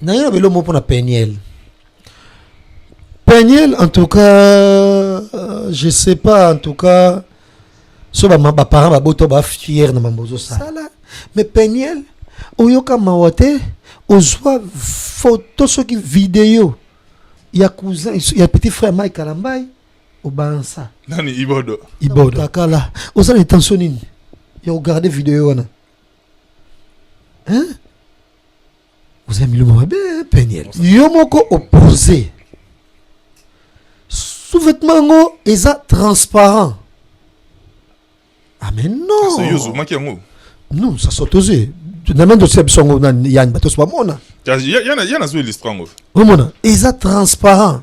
naye na belo moko mpona peniel peniel en tout cas euh, je sais pas en tout cas so baparent babota ba fiere na mambo ozosala mais peniel oyoka mawa te ozwa foto soki video ya cousin ya petit frère mike kalambai obansa nani ibodo ibodo takala oza na intention nini ya kogarde video wana hein oza milimo mabe peniel yo moko opose sous-vêtement yango eza transparent ah mais non kasi yo ozomaki yango non ça saute aux yeux na mende osia biso yango na yani bato oso bamona ya nazwa illustre yango omona eza transparent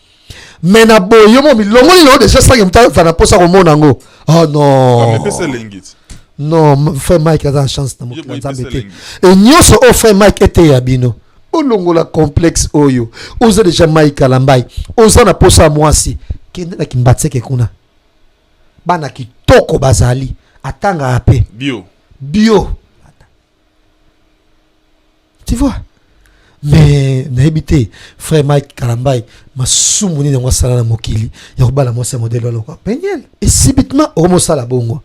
mais na boye yo mo milongoli na yo deja sange moto aza na mposa komona yango oh non amepesa elengi ti non frère mike aza na chance na mokili ya nzambe te e nyonso oyo frère mike eteya bino olongola complexe oyo oza deja mike alambai oza na mposa ya mwasi kende na kimbatseke kuna bana kitoko bazali atangaka mpe bio bio tu vois mais nayebi te frère mike kalambai masumu nini yango asala na mokili ya kobala mwasi ya modele alokwa peniel et subitement okomi osala bongo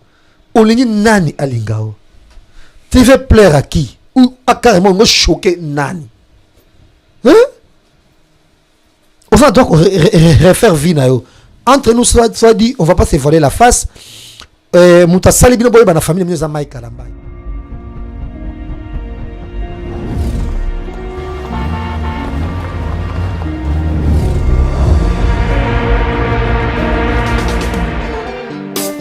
olingi nani alinga yo tu veux plaire à qui ou acarrément ngo choquer nani hein? oza droit refaire vie na yo entre nous soit, soit dit on va pas se voiler la face euh, moto asali bino boyeba na famille na bino eza mike kalambay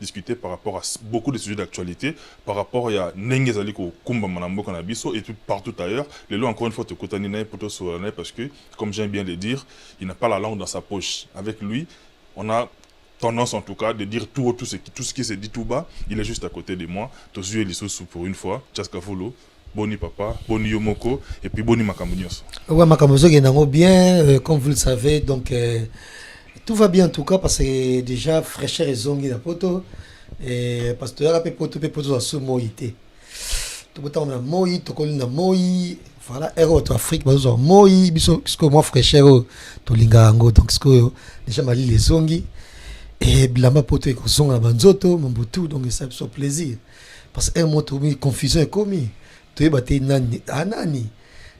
discuter par rapport à beaucoup de sujets d'actualite par rapport ya ndenge ezali kokumbama na mboka na biso et puis partout ailleurs lelo encore une fois tokutani na ye mpo tosolola na ye parce que comme j'aime bien le dire il n'a pas la langue dans sa poche avec lui on a tendance en tout cas de dire tout haut tout ce qui, tout ce qui se dit tout bas il est juste à côté de moi tozwi ye lisusu pour une fois Chaska Fulu Boni papa, boni yo moko et puis boni makambo nyonso. Ouais, makambo ezokende yango bien euh, comme vous le savez donc euh, tout va bien en tout cas parce que déjà fraîcheur ezongi na poto et parce que toyaka mpe poto mpe poto tozwa su moi te tokotanga na moi tokoli na moi voilà ere oyo to afrique bazozwa moi biso sikoyo mwa fraîcheur oyo tolingaka yango donc sikoyo déjà malili ezongi e bilamba poto ekozonga na banzoto mambutu donc esala biso plaisir parce que un mois tokomi confusion ekomi toyeba te nani a ah, nani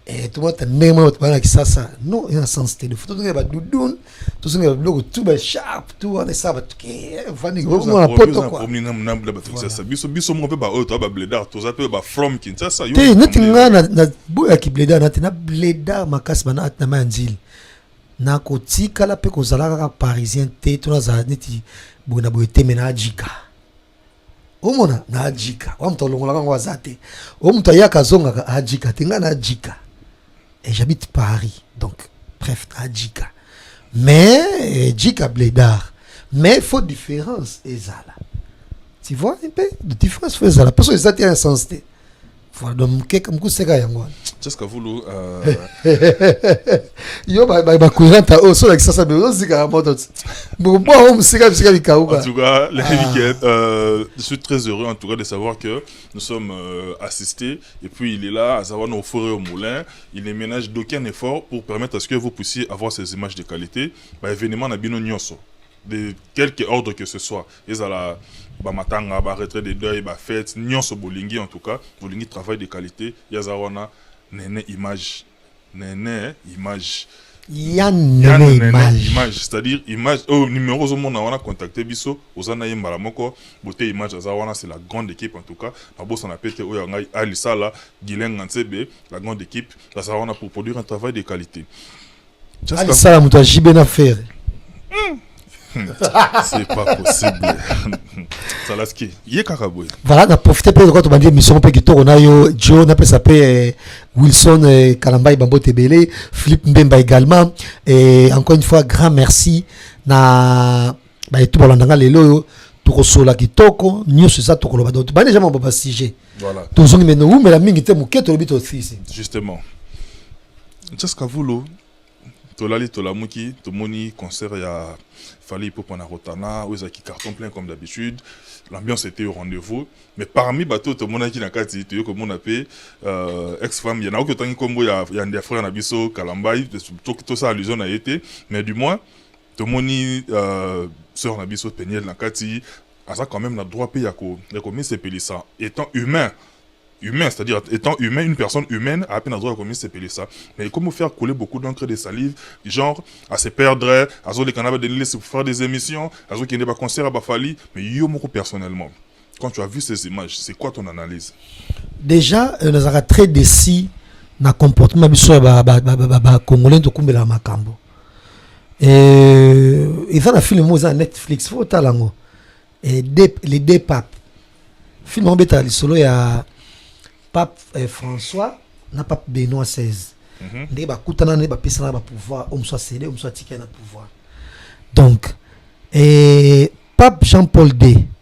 eh, tomata ndenge moko bato balaki sasa non eza na sens te lefo tozongela badudun tozongela biloko tu basharpe tu wana esala bato kevandikona eh, poto kuakinshasa biso biso moko mpe baoyo toa babledar toza mpe bafrom kinshasa te neti ngai naboyaki bledar nati na bledar makasi bana ati na mai ya nzili nakotikala mpe kozala kaka parisien te to nazala neti boye na boye te me na ajika omona na ajika wa moto alongolaka yango aza te oyo moto ayaka azongaka ajika te ngai na ajika et j'habite paris donc bref na ajika mais eh, jika bledar mais faut différence ezala tu vois un peu de différence faut ezala parce que eza te un sens te Fado mukeka mukuseka yango wana. Jessica Vulu euh yo ba ba kuiranta o sola kisasa be ozika ya moto. Bo bo o musika bisika bikauka. En tout cas, les ah. week-ends euh, je suis très heureux en tout cas de savoir que nous sommes euh, assistés et puis il est là à savoir nos forêts au moulin, il ne ménage d'aucun effort pour permettre à ce que vous puissiez avoir ces images de qualité. Bah événement na bino nyonso. de quelque ordre que ce soit ezala ba matanga ba retrait de deuil ba fete nyonso bolingi en tout cas bolingi travail de qualité ye aza wana nene image nene image ya nene image, image. c'est à dire image oyo oh, numero ozomona wana contacte biso oza na ye mbala moko bote image aza wana c'est la grande équipe en tout cas nabosana pe te oyo ya ngai alisala gilenga nsebe la grande équipe aza wana pour produire un travail de qualité alisala moto ya jibe na fere hmm. Hmm. c'est pas possible salaski ye kaka boye voilà na profite mpe lokola tobandi émission mpe kitoko na yo jo napesa mpe eh, wilson eh, kalambai bambote ebele philippe mbemba également et encore une fois grand merci na baye tu balanda nga lelo oyo tokosola kitoko nyonso eza tokoloba donc bani deja mabo basujet tozongi me nowumela mingi te moke tolobi tosisi justement jaska vulo tolali tolamuki tomoni concert ya fali ipupa na rotana oyo ezalaki carton plein comme d'habitude l'ambiance était au rendez-vous mais parmi bato oyo tomonaki na kati toye komona mpe euh, ex femme ya naoki otangi nkombo ya, ya, ya frère na biso kalambai tosala allusion na ye te mais du moins tomoni euh, sœur na biso peniel na kati aza quand même na droit mpe ya komisepelisa étant humain humain, c'est-à-dire étant humain, une personne humaine a à peine droit à commettre ces là Mais comment faire couler beaucoup d'encre de salive, genre à se perdre, à les canaux de l'île pour faire des émissions, à ceux qui n'ont pas concert à Bafali, mais yo moko personnellement. Quand tu as vu ces images, c'est quoi ton analyse Déjà, euh, nazaka très déçu na comportement biso ya ba ba ba, ba, ba congolais to kumbela makambo. Euh, et ça la film oza Netflix, faut tala ngo. Et des, les deux papes. Film en beta lisolo ya pape euh, François na pape Benoît XVI. Mm -hmm. Ndenge bakutana nde bapesana ba pouvoir, oyo mosusu asele, oyo mosusu atikali na pouvoir. Donc, et pape Jean-Paul II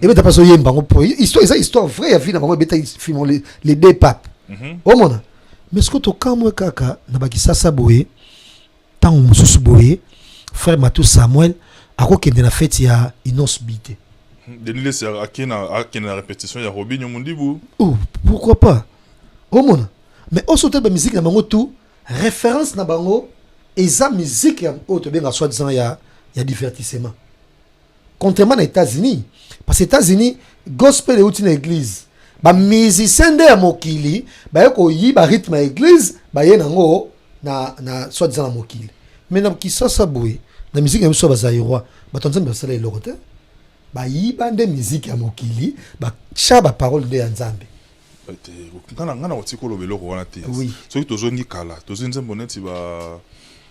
ebeta mpe azoyemba yango mpo histoire eza histoire vrai ya vie na bango ebeta fimo les deux papes mhm. omona mais soki tokamwe kaka na bakisasa boye ntango mosusu boye frère matou samuel akokende na feti ya inos bi te denilesi akende na répétition ya robinio mondibu oh, pourquoi pas omona mais oso otali bamiziki na bango tout référence na bango eza miziki oyo tobenga soi disant ya, ya divertissement contrairement na Etats-Unis parce que Etats-Unis gospel euti na église ba musiciens nde ya mokili baye koyiba rythme ya église baye nango na, na soit disant na mokili mais na kisasa boye na miziki na biso ya bazairois bato ya nzambe basala eloko te bayiba nde miziki ya mokili batya baparole nde ya nzambe ngai na kotika oloba eloko wana te soki tozongi kala tozwi nzembo neti ba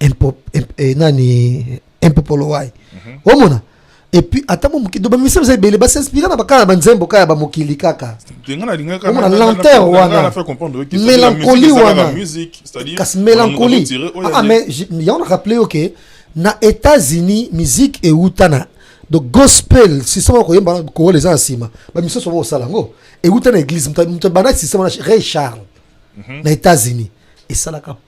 impo, imp, eh, nani impopolowai mm -hmm. omona epuis ata mo mokido bamisala eza ebele basinspira na bakala banzembo kaka ya bamokili kaka omona lenteur wana mélancolie wana kasi mélancolie ah, mais yango na rappele yo ke na états-unis musique euta na donc gospel système ya koyemba kowala eza na nsima bamisusu yango kosala yango euta na église moto abandaki système wana ray charles mhm. na états-unis esalaka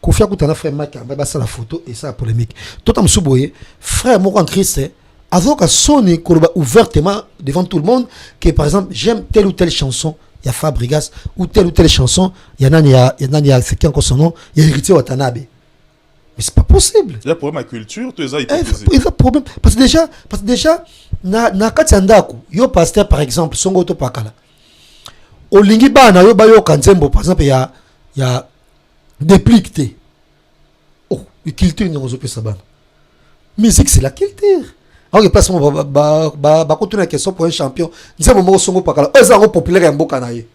kofi akuta na frère mike ambaye basala photo esala polémique tota mosusu boye frère moko en christ azoyoka soni koloba ouvertement devant tout le monde que par exemple j'aime telle ou telle chanson ya fabrigas ou telle ou telle chanson ya nani ya, ya nani ya secteur encore son nom ya héritier watanabe mais c'est pas possible ya problème ya culture to eza hypocrisie eza problème parce que déjà parce que déjà na, na kati ya ndako yo pasteur par exemple songo topakala olingi bana yo bayoka nzembo par exemple ya ya deplique te oh culture niongo ozopesa bana musique c'est la culture aoke place moko bakotuna question pour un champion nzembo moko songo pakala oyo eza yango populaire ya mboka na ye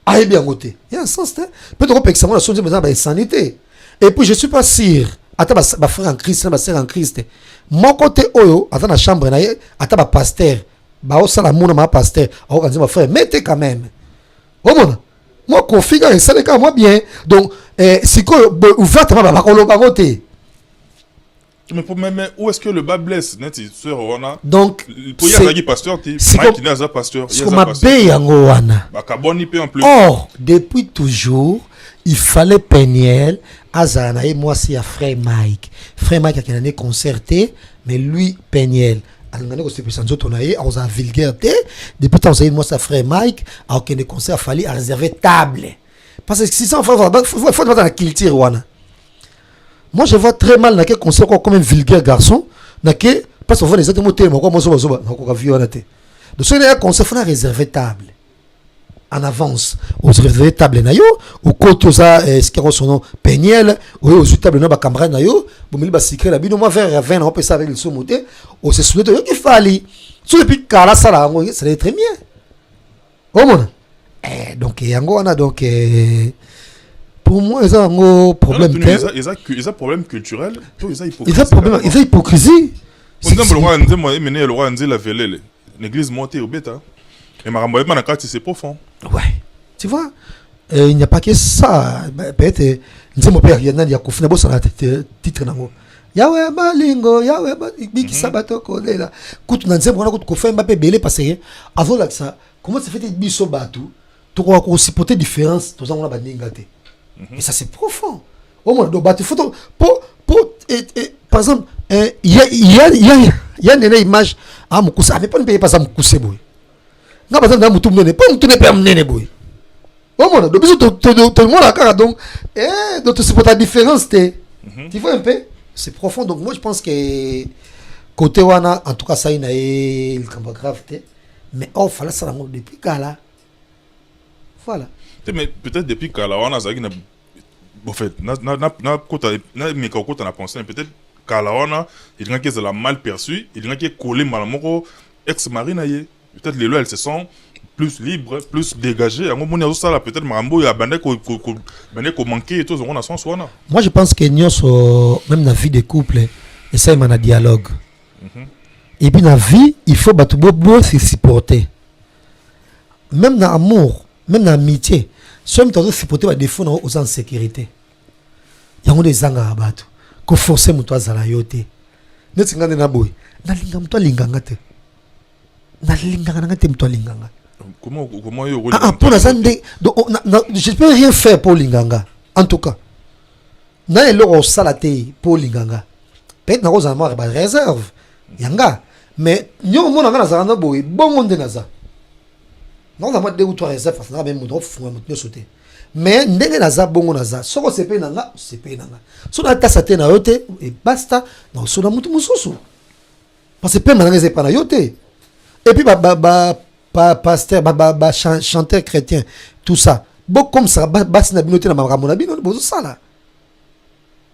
ayebi yango te ya sens te mpe tokopekisa yango na so nzembo eza na baesani te et puis je suis pas sûr ata bafrère en christ na basere en christ moko te oyo aza na chambre na ye ata bapaster baosala muna ma paster akoka nzembo frère mete quand même omona mwa kofi kaka esali kaka mwa bien donc eh, sikoyo ouvertement bakoloba yango te Mais, pour, mais, mais où est-ce que le bas blesse neti sœur wana donc po ya zaki pasteur ti Mike n'a za pasteur ya za pasteur mabe yango wana bakaboni pe en plus or depuis toujours il fallait Peniel azala na ye mwasi ya frère Mike frère Mike akenda ne concert te mais lui Peniel alingani kosepelisa nzoto na ye akozala vulgaire te depuis ntango ozali mwasi ya frère mike akokende concert afali areserve table parce que 600 faut bata na culture wana moi je vois très mal nake concert kwa comme un vulgaire garçon nake parce ovona eza te motema kwa mozobazoba nakoka vie wana te donc soki naya concert fona reserve table en avance oreserve table na yo okoti oza eh, esika yango sono peniel oye ozwi table na bacamarade na yo bomeli basikre na bino mwa vere ya vin na opesa avec lisumu te osesune te oyoki fali soki epi kala asala yango esala très bien omona eh, donc yango wana donc eh, pour moi eza yango problème te eza problème culturel to eza hypocrisie eza hypocrisie nzembo lokola nzembo emeneye lokola nzela velele L'église montée au bêta. Et ma rambo na kati c'est profond. Ouais. Tu vois, euh, il n'y a pas que ça. Bah, peut-être euh, nzembo pe ya nani ya kufi na bosana titre nango. Yawe malingo, yawe ba biki mhm. sabato kolela. Kutu na nzembo wana kutu kofemba pe belé parce que avant là ça, comment ça fait biso batou tokoka ko supporter différence toza ngona baninga te mais ça c'est profond omona do bato foto po po et, et, par exemple euh, ya ya ya ya nene image ah mukuse avec pas mpe paza mukuse boye nga baza na mutu munene po mutu ne pe munene boye omona do biso tomona kaka donc eh, do tosupporta différence te mhm. tu vois un peu c'est profond donc moi je pense que côté wana en tout cas ça ina ye likambo grave te mais or fala sala ngo depuis kala Voilà. Mais peut-être depuis kala wana azalaki na en fait na na na na kota na meka kota na pensée peut-être kala wana elingaki ezala mal perçu elingaki ekolle mbala moko ex mari na ye peut-être lelo elle se sent plus libre plus dégagé yango moni azosala peut-être makambo oyo abandaki bandaki komanke to ezongo na sens wana moi je pense que nyonso même na vie de couple esalema na dialogue mm -hmm. et puis na vie il faut bato bo bo se supporter Même na amour, même na amitié, soki moto azo supporter ba défaut na yo oza en sécurité. Yango nde ezangaka bato. Ko forcer moto azala yo te. Neti nga nde na boye, nalinga moto alinga nga te. Nalingaka na nga te moto alinga nga. Comment comment yo okolinga? Ah, ah mpo naza nde donc oh, na, na, je peux rien faire mpo olinga nga. En tout cas, na eloko osala te mpo olinga nga. Peut-être nakozala mwa ba réserve yanga mais nyo omona nga nazala na boye bongo nde naza naza mwa deux ou trois réserve parce que naza meme moto ofunga moto nyonso te mais ndenge naza bongo naza soki osepeli na nga osepeli na nga so natasa te na yo te ebasta na osola moto mosusu parce que pema na nga eza epa na yo te epuis bapasteur bachanteur chrétien tout ça bokomisaka basi na bino te na makambo na bino bozosala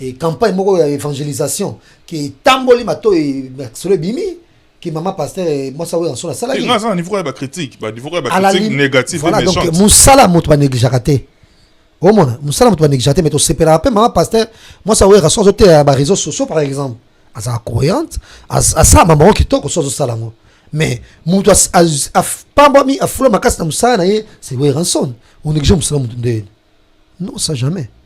e campagne moko ya evangelisation ke etamboli mato masolo ebimi ke mama pasteur eh, mwasi akoya nso nasalaki nga aza na niveau ya bacritique baniveau ya bacritique négative voilà, donc mosala moto banegligeaka te omona mosala moto banegligeaka te mais tosepelaka mpe mama pasteur mwasi akoyaka so azoteya baréseau sociaux par exemple azala croyante asala mambo yango kitoko so azosala yango mais moto apambwami afula makasi na mosala na ye c'est weranson onéglige mosala moto nde non ça jamais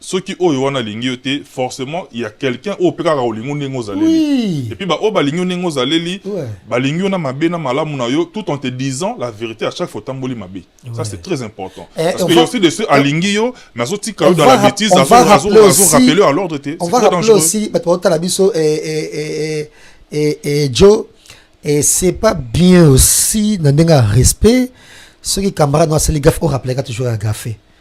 soki oyo wana alingi yo te forcement ya quelqu'un oyo mpe kaka olingi ndenge ozaleli epuis baoyo balingi yo ndenge ozaleli balingi yo na mabe na malamu na yo tout en te disant la vérité à chaque fois otamboli mabe ça c'est très important eh, parce que aussi de ceux alingi yo mais azotika yo dans la bêtise azorapele yo à l'ordre te on va rappeler aussi bato baotala biso eh, eh, joe et c'est pas bien aussi na ndenge ya respect soki camarade no asali gafe orapelaka toujours ya gafe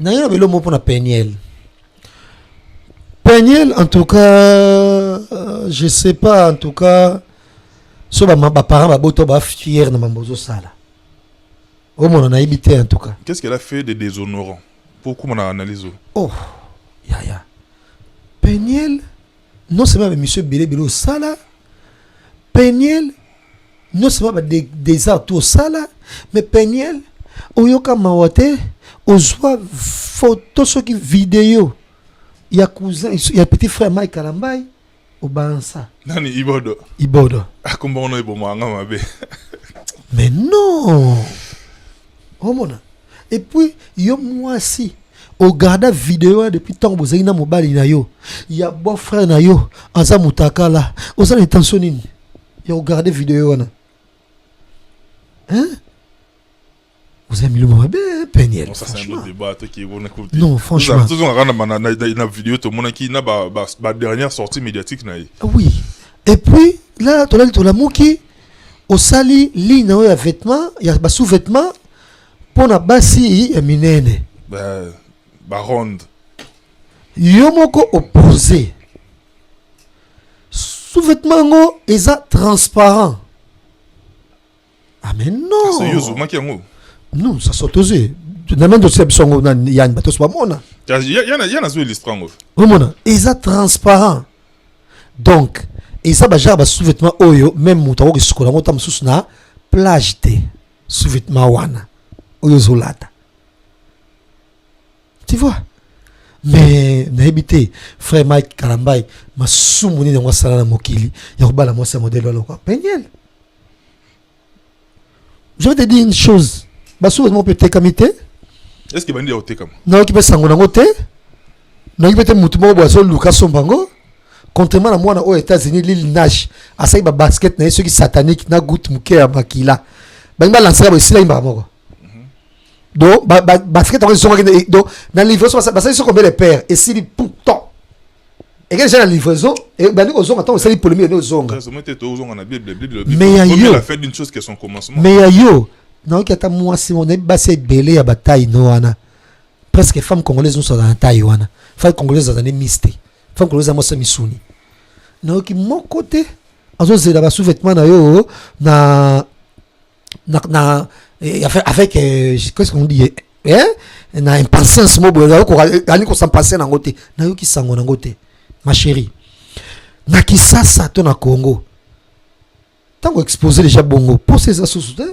naye na belo moko mpona peniel peniel en tout cas euh, je sais pas en tout cas so baparent babota bafiere na mambo ozosala omona nayebi te en tout cas qu'est ce qu'elle a fait de déshonorant pour okoma na analyse oh yaya peniel Non seulement ba missions ebele ebele osala Peniel non seulement ba des arts tout osala mais Peniel oyoka mawa te ozwa photo soki video ya cousin ya petit frère Mike Kalambai obansa nani ibodo ibodo akomba ah, ono ebomanga mabe mais non omona epuis yo mwasi ogarda video wana depuis ntango bozali na mobali na yo ya beau frère na yo aza mutakala oza na intention nini ya kogarde video wana hein? oza milimo mabe peniel non franchemmentozongaka na video tomonaki na badernère sortie médiatique na ye ah oui et puis là tolali tolamuki osali ligne na yo ya vêtement ya ba sous vêtement mpo na basi ya minene ba, ba ronde yo moko opose sous vêtement yango eza transparent ah mais non c'est yo ozomaki yango non ça soit osé na mende osia biso yango na yani bato oso bamona ya nazo illustre yango omona eza transparent donc eza ba genre ba sous-vêtement oyo même moto akoki kosukola yango ta mosusu na plage te sous-vêtement wana oyo ozolata tu vois mais nayebi te frère mike kalambai masumu nini yango asala na mokili ya kobala mwasi ya modele aloka peniel je vais te dire une chose basuka moko mpe etekami te est ce que bandi ya kotekama nayoki mpe sango nango te nayoki mpe te motu moko boye azoluka asomba yango contrairement na mwana oyo états-unis lil nash asali babasket na ye soki satanique na gout moke ya makila bangi balansaka boye esila yimbaka moko mhm. donc basket yango ezongaki donc na livraison basali soko mbele père esili pourtant ekende eza na livraison ebandi kozonga ntango osali polemi yende ozonga mais ya yo nayoki ata mwasi moko nayebi basi ebele ya bataille no wana presque femme congolaise nyonso aza na taille wana femme congolaise aza ne miste femme congolaise aza mwasi ya misuni nayoki moko te azozela basous-vêtement na yo na na, na eh, avec, avec euh, qu'est-ce qu'on dit eh, eh, na impatience mo boye ali kosampase nango te nayoki sango nango te ma chérie na kisasa to na congo ntango expose déjà bongo mposa eza susu te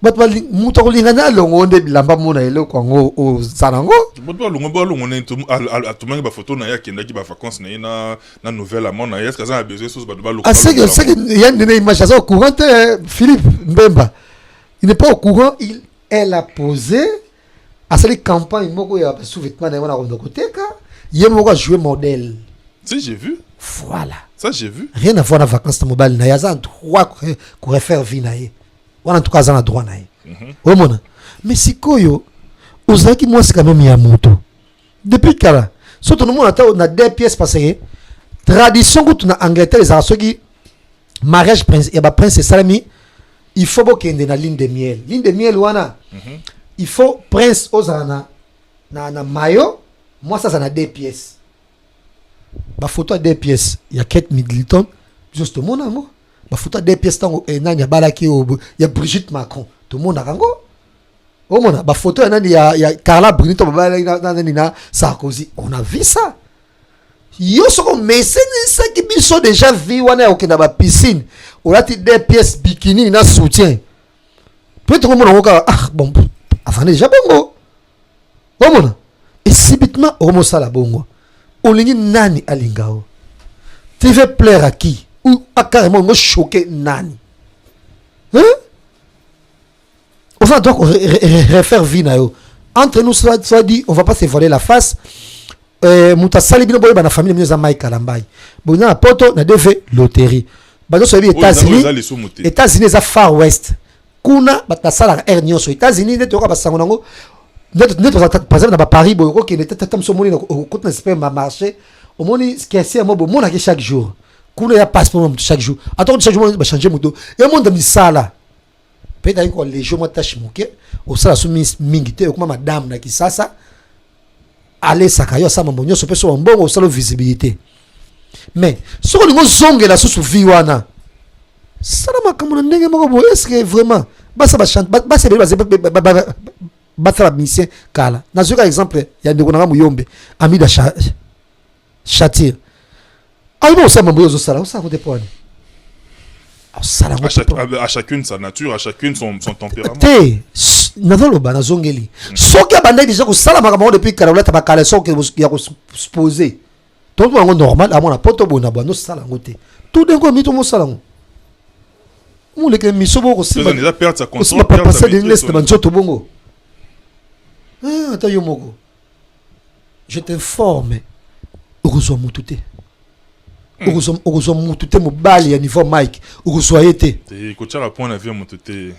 bato bali- moto akolinga na alongo nde bilamba mona eloko yango oza nango bato balongo balongo nani to- al- al- atumaki bafoto na ye akendaki bavacance na ye na na nouvelle amant na ye eske aza na besoin soso bato balongo aseke balongo seke yango. ya nene image aza au courant te eh, philippe mbemba il n'est pas au courant il elle a posé asali campagne moko ya sous-vêtement na ye wana akonda koteka ye moko ajoue modèle si j'ai vu voilà ça j'ai vu rien à voir na vacances na mobali na ye aza en droit ko- ko refaire vie na ye wana tuka aza na droit na ye mhm. omona me sikoyo ozalaki mwasi ka meme ya moto depuis kala so tonomona ata na deux pièces parce que tradition kutu na angleterre ezalaka soki mariage prince ya baprince esalami il faut bokende na ligne de miel ligne de miel wana mhm. il faut prince ozala na, na, na mayo mwasi aza na deux pièces bafoto ya deux pièces ya kate middleton biso tomona yango bafuta de pièce ntango eh, nani abalaki oyo ya brigitte macron tomonaka yango omona bafoto ya nani ya, ya carla bruni to babalaki na na- nani na sarkozy on a vu ça yo soki omesenisaki biso deja vie wana ya kokenda bapiscine olati de pièce bikini na soutien peut-être omona yango kaka ah bon afandi deja bongo omona et subitement omosala bongo olingi nani alinga yo tu veux plaire à qui ou à carrément olingo choquer nani hein? oza droit refaire vie na yo entre nous soit, soit dit on va pas se voiler la face euh, moto asali bino boyeba na famille bino eza mai kalambai boza na poto na dv loterie bazosoyebi états-unis états-unis eza far west kuna bato basalaka aire nyonso états-unis nde toyoka basango nango nde tozala par exemple na baparis boye okokende tata moso omoni okoti na super marché omoni kese yango bomonaki chaque jour kuna ya passeport ya moto chaque jour ata kuti chaque jour bachange moto emonda misala mpe etaki koa legio mwa tache moke osala so mingi te okoma madame na kisasa alesaka yo asala mambo nyonso mpe soba mbongo osala visibilité mais soki olingi ozongela susu vie wana sala makambo na ndenge moko boye eske vraiment basa basala misien kala nazoki kaka exemple ya ndeko na nga moyombe amida châtir ayebi ah, osala mambo oyo ozosala osala kote mpo wani osala à chacune sa nature à chacune son, son tempérament te nazoloba nazongeli mm. soki abandaki deja kosala makambo yango depuis kala olata bakaleson ya kospose tontu yango normal amona mpo tobona bwa nosala yango te tout d'un coup mito mosala yango moleke miso bo kosimba papa sa de nglese na banzoto bongo ata yo moko je t'informe okozwa mutu te hmm. okozwa mutu te mobali ya niveau mike okozwa ye te eh, kotyaka point na vie ya mutu te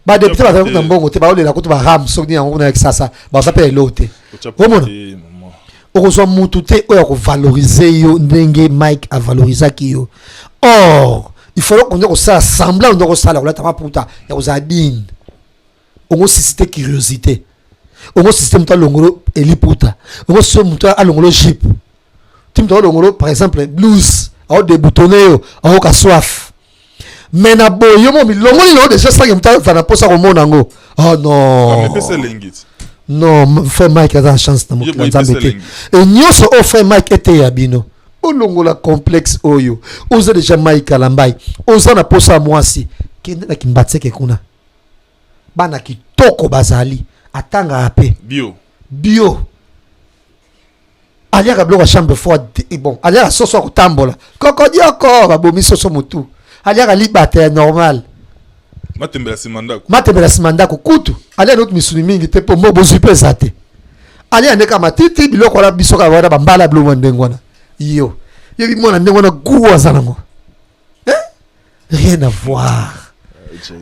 badepute bazali kuta mbongo te baolela kutu baram soki nini yango kuna ya kisasa baza mpe ya eloko te omona okozwa mutu te oyo akovalorize yo ndenge mike avalorizaki yo or il faut okonde kosala semblant onde okosala kolata maputa ya kozala digne ongo suscite curiosité ongo suscite moto alongolo eliputa ongo suscite moto alongolo jipe ti moto alongolo par exemple blouse aodeboutonne yo aoka soif mais na boye yo mo milongoli nao deja sange moto azala na mposa komona yango oh non non frère mike aza na chance na mokili ya nzambe te e nyonso oyo frère mike eteya bino olongola complexe oyo oza deja mike alambai oza na mposa ya mwasi kende na kimbatseke kuna bana kitoko bazali atangaka mpe bio bio aliaka biloko ya chambre froide te eh, bon aliaka soso ya kotambola kokodioko babomi soso motu aliaka libata ya normal matembela nsima ndako matembela nsima ndako kutu aliaka noki misuni mingi te mpo mbo bozwi mpe eza te aliaka ndeka matiti biloko wana biso kaka wana bambala biloko ya ndenge wana yo yebi mwana ndenge wana gu aza nango hein? rien à voir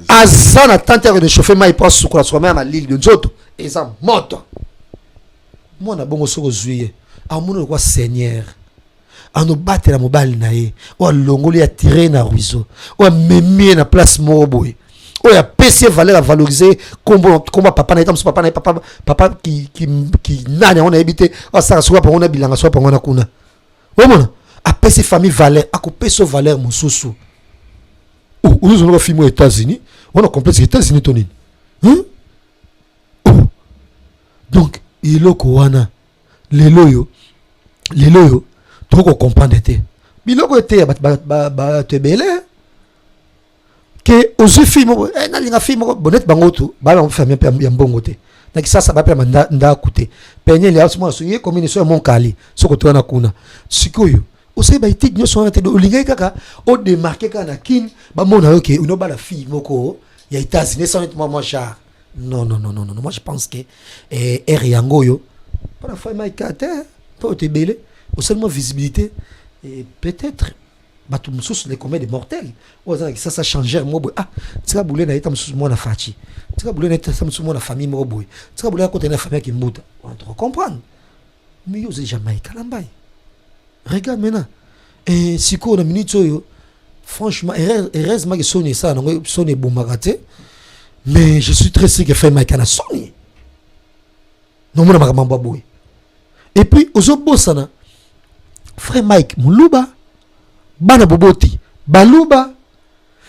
aza na tante yako dechauffe mai mpo asukola sukola mai ya malili nzoto eza moto mwana bongo soki ozwi ye amoni lokwa seigneur anobatela mobali na ye oyo alongoli atire ye na ruiseau oyo amemi ye na place moko boye oyo apesi ye valeur avalorise kombo kombo papa na ye tamosu papa na ye papa papa kinani yango nayebi te asaka soki apango na bilanga soki apango na kuna omona apesi famille valeur akopesa valeur mosusu ozozonaka filme ya états-unis wana complexe états-unis to nini hmm? oh. donc eloko wana lelo oyo lelo oyo tokoki kocomprendre te biloko eteya bato ebele ke ozwi fille moko eh, nalinga fille moko bonete bango tu baa bango famille mpe ya mbongo te na kisasa bapema ndako te pene liasi mwana soki ye komini so ya monkali soki otoya na kuna sikoyo osali baetide nyonso wana te do olingaki kaka odemarke kaka na kine bamona yo ke onobala fille moko ya états-unis esaneti mwa mwa genre non non non non non moi je pense que eh, ere yango oyo mpona fai maika te mpo oto ebele osali mwa visibilité eh, peut-être bato mosusu les combien de mortels oyo aza na kisasa changer moko boye ah tika bule na ye ta mosusu mwana faci tika bule na ye ta mosusu mwana famille moko boye tika bule akota na famille ya kimbuta on te comprendre mais yo ozali jamai kalambai regarde maintenant eh, sikoyo na minute oyo franchement heureusement ke soni esala nango soni ebomaka te mais je suis très sûr que fai maika na soni nomona makambo boye et puis ozobosana frère mike muluba bana boboti baluba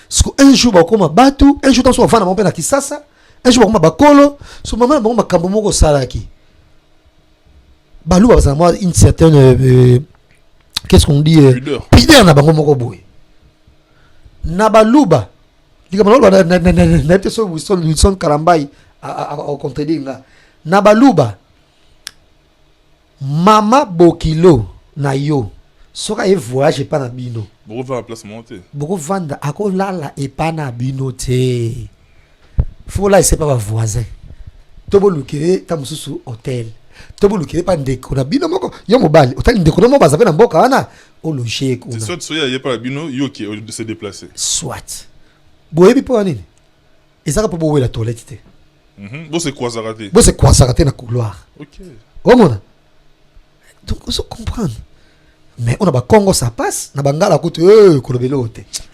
siko un jour bakoma batu un jour tanso bavanda bango mpe na kisasa un jour bakoma bakolo so mama na bango makambo moko osalaki baluba bazala mwa une certaine euh, euh, qu'est ce qu'on dit euh, pideur na bango moko boye na baluba likambo naloba nayebi te soki wilson wilson kalambai akontredire nga na baluba mama bokilo na yo soki aye voyage epa na bino bokovanda akolala epa na bino te fokolalisa epa bavoisin to boluke ye ntango mosusu hotel to boluke ye mpa ndeko na bino moko yo mobali otali ndeko na moko baza mpe na mboka wana ologer kuna soit soki aye epai na bino yo ke se déplacer soit boyebi mpo na nini ezaka mpo bowela toilette te mhm. bosekwasaka te bosekwasaka te na couloir omona donc ozo comprendre mais on a ba Congo ça passe na bangala kutu eh kolobela oyo te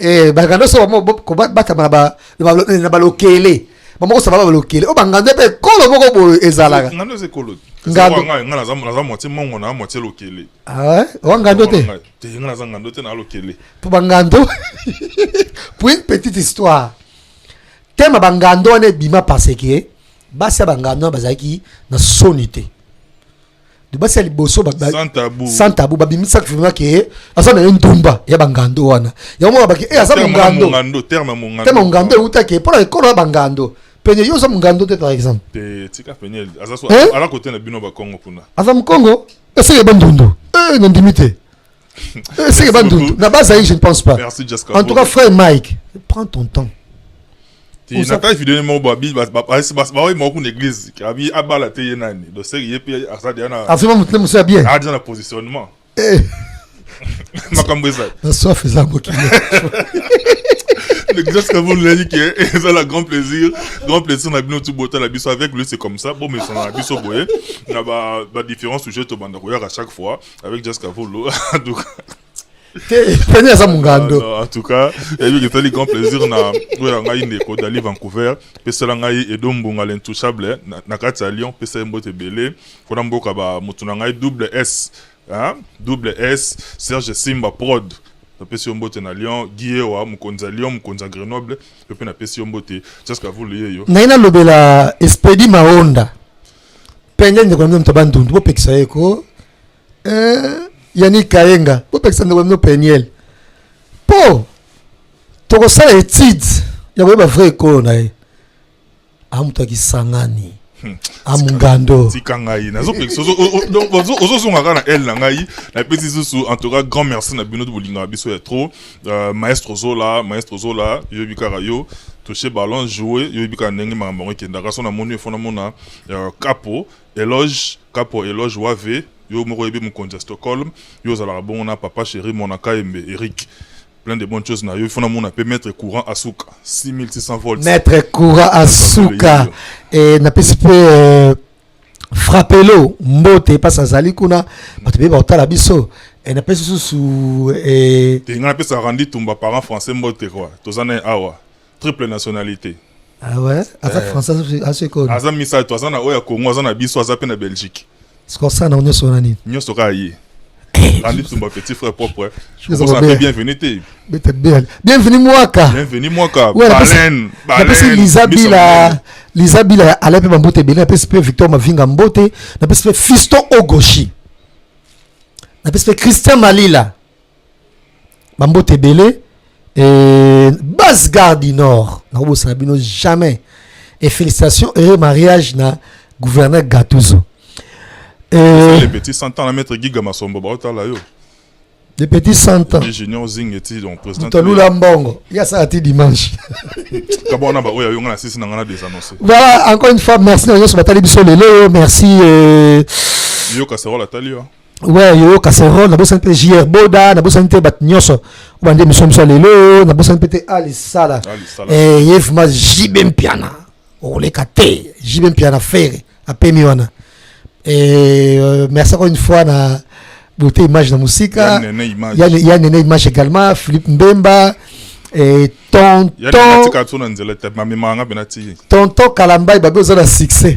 eh ba ngando so mo ko bata na ba na ba lokele ba moko sa ba lokele o ba ngando pe kolo moko bo ezalaka ngando ze kolo ngando nga nga za na za moitié mongo na moitié lokele ah o ngando te te nga za ngando te na lokele po ba ngando pour une petite histoire tema ba ngando ne bima parce que basi ya ba ngando bazalaki na soni te basi ya liboso sans tabou babimisaki vrima ke aza na ye ndumba ya bangando wana yango mona baki e aza mongando terme mongando eutaki mpo na ekolo ya bangando pene yo oza mongando te par exemple aza mokongo eseke bandundu eh, nandimi te Eh, c'est pas doute. Na base je ne pense pas. Merci Jessica. En tout cas, frère Mike, prends ton temps. Ti na kai vidéo mo ba bi ba ba ba ba mo ku l'église. Abi abala te yenani. Do se ye pe asa dia na. Afima mutne musa bien. Ah dia na positionnement. Eh. Makambo eza. Na soif eza ko ki. L'exercice que vous nous dit que c'est la grand plaisir, grand plaisir na bino tout botal la biso avec lui c'est comme ça. Bon mais son na biso boye na ba ba différents sujets to banda koyaka chaque fois. avec Jazz Kavolo en tout cas Penny aza mungando. Ah, en tout cas, il y a eu grand plaisir na oya ngai ndeko d'aller Vancouver, pesala ngai Edo Mbunga l'intouchable eh, na kati ya Lyon, pesala mbote belé, kona mboka ba mutu na ngai double S, hein? Double S, Serge Simba Prod. napesi yo mbote na lyon giewa mokonzi ya lyon mokonzi ya grenoble yo mpe napesi yo mbote jaska vulu ye yo ngai nalobela espedi maonda pende ndeko na bino moto ya bandundu bopekisa ye ko eh, yani kayenga bopekisa ndeko na bino peniel mpo tokosala etide ya koyeba vrai ekolo na ye amoto ya kisangani Hmm. amungando tika ngai nazozongaka na l na ngai napesi susu en tout cas grand merci na bino bolingaka biso ya trop Euh, maestro zola maestro zola yoyebi kaka yo touche ballon joue yoyebi kaka ndenge makambo yango ekendaka so namoni yo fona mona euh, capo eloge capo eloge wave yo moko oyebi mokonzi ya stockholm yo ozalaka bongo na papa chéri mona kayembe eric plein de bonnes choses na yo fona mona mpe maître courant asuka 6600 volts maître courant asuka e napesi mpe euh, frapelo mbote mpasi azali kuna bato beye bakotala biso eh, napesi susu eh, te ngai napesa randi tumba parent français mbote kua toza naye awa triple nationalité ah ouais aza eh. français asoekoni aza misato aza na oyo ya congo aza na biso aza mpe na belgique sikosana nyonso wana nini nyonso kaka ye Alitumba petit frère propre. Je vous appelle bienvenue te. Bienvenue mwaka. Bienvenue mwaka. Baleine. Baleine. Lisa Bila. Lisa Bila Alain pe Mambote Bele, na pe Victor Mavinga Mbote, na pe Fiston Ogoshi. Na pe Christian Malila. bambote ebele euh, base garde du nord nakobosana bino jamais et félicitations heureux mariage na gouverneur gatuzo euh, les petits cent ans na maître giga masombo baotala yo les petits cent ans junior zing eti donc président mutolula mbongo ya sala ti dimanche kabona ba oyo yonga na sisi na ngana des annonces voilà encore une fois merci na nyonso batali biso lelo merci euh... yoka sarola tali yo ouais yoyo casserole nabosani mpe jr boda nabosani te bato nyonso obande emission mosu ya lelo oyo nabosani mpe te alisala eh, ye vrima jibe mpiana okoleka te jibe mpiana fere apemi wana eh, euh, merci encore une fois na beauté image na mosika ya nene image également philippe mbemba eh, tonton tonton kalambai babe oza na succès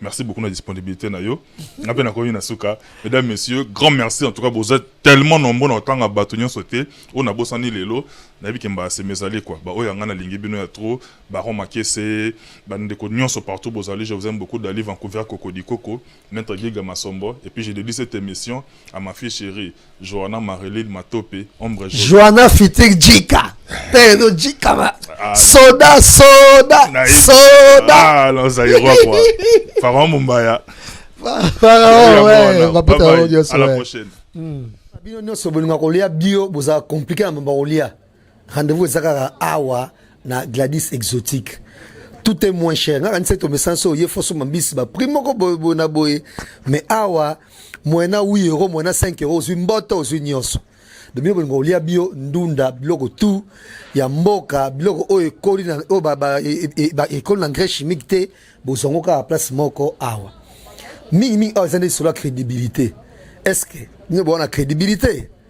Merci beaucoup na disponibilité na yo. Na pe na komi na suka. Mesdames, messieurs, grand merci en tout cas vous êtes tellement nombreux na tanga bato nyonso te. On a bosani lelo na yebi kemba se mesali quoi. Ba oyo ngana lingi bino ya trop. Baron Makese, ba ndeko nyonso partout bozali. Je vous aime beaucoup d'aller Vancouver Cocody Coco, Maître Giga Masombo et puis je dédie cette émission à ma fille chérie Joana Marilyn Matope ombre jaune. Joana fitir Jika. Te no Jika ma. Ah. Soda soda soda. Ah non ça y quoi. Pharaon Mumbaya. Pharaon ouais, va pas t'en dire ça. À la prochaine. Hmm. Bino nyoso bolinga kolia bio boza compliqué na mamba kolia. Rendez-vous eza kaka awa na Gladys Exotique. Tout est moins cher. Ngaka nse to mesanso ye foso mambisi ba prix moko boye boye na boye. Mais awa moyena 8 euros, moyena 5 euros, ozwi mboto, ozwi nyonso. Bino bolingo olia bio ndunda biloko tout ya mboka biloko oyo ekoli na oyo ba, ba, e, e, e, ba ekoli na engrais chimique te bozongo kaka place moko awa. Mingi mingi awa eza nde solo ya crédibilité. Est-ce que bino boona crédibilité?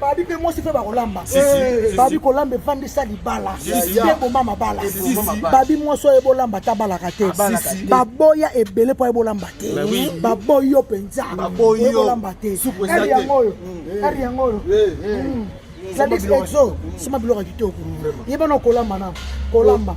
babi mpe mwasi mpe bakolamba eh, babi kolamba efandisa libala te boma mabala babi mwasi oyo ebolamba ata abalaka te baboya ebele mpo ebolamba te baboyi yo mpenza ebolamba te ere yango oyo ere mm. yango oyo eh, eh. mm. zadex exo sima biloko ya kitoko yebana okolamba na kolamba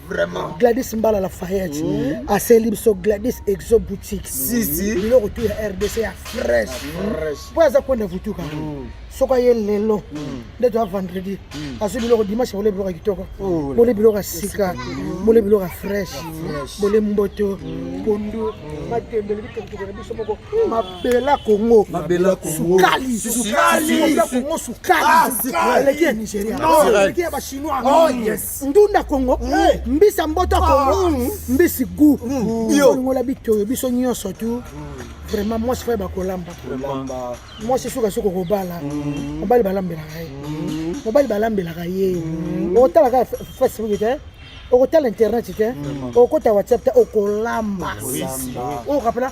Vraiment. Gladys Mbala la Fayette. Mm. A Celibso Gladys Exo Boutique. Si si. Bilo retour ya RDC ya fresh. Fresh. Po aza kwenda vutuka. Mm. Soka ye lelo. Mm. Ndeto ya vendredi. Mm. Azu bilo ko dimanche bole bilo ka kitoko. Oh, bole bilo ka sika. Mm. Bole bilo ka fresh. Mm. Bole mboto. Mm. Pondo. Mm. Matembe le bito kitoko biso moko. Mm. Mabela Congo. Mabela Congo. Sukali. Sukali. Mabela Congo sukali. Ah, sukali. Leki ya Nigeria. Leki ya ba Chinois. Oh yes. ndunda kongo mbisa mboto kongo ah. mbisi gu olingola bitoyo biso nyonso tu vraiment mwasi faye bakolamba mwasi suka soki okobala mm. mobali balambelaka ye mm. mobali balambelaka ye mm. otalaka facebook te okotala internet te okota whatsapp te okolamba okapela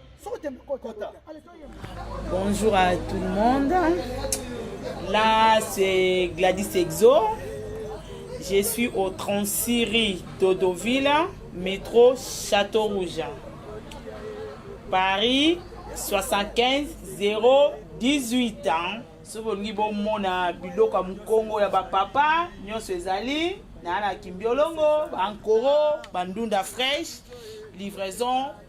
Bonjour à tout le monde. Là, c'est Gladys Exo. Je suis au 36 rue Dodoville, métro Château Rouge. Paris 75 018 ans. soki olingi bomona biloko ya mokongo ya bapapa nyonso ezali na na kimbiolongo bankoro bandunda fraîche livraison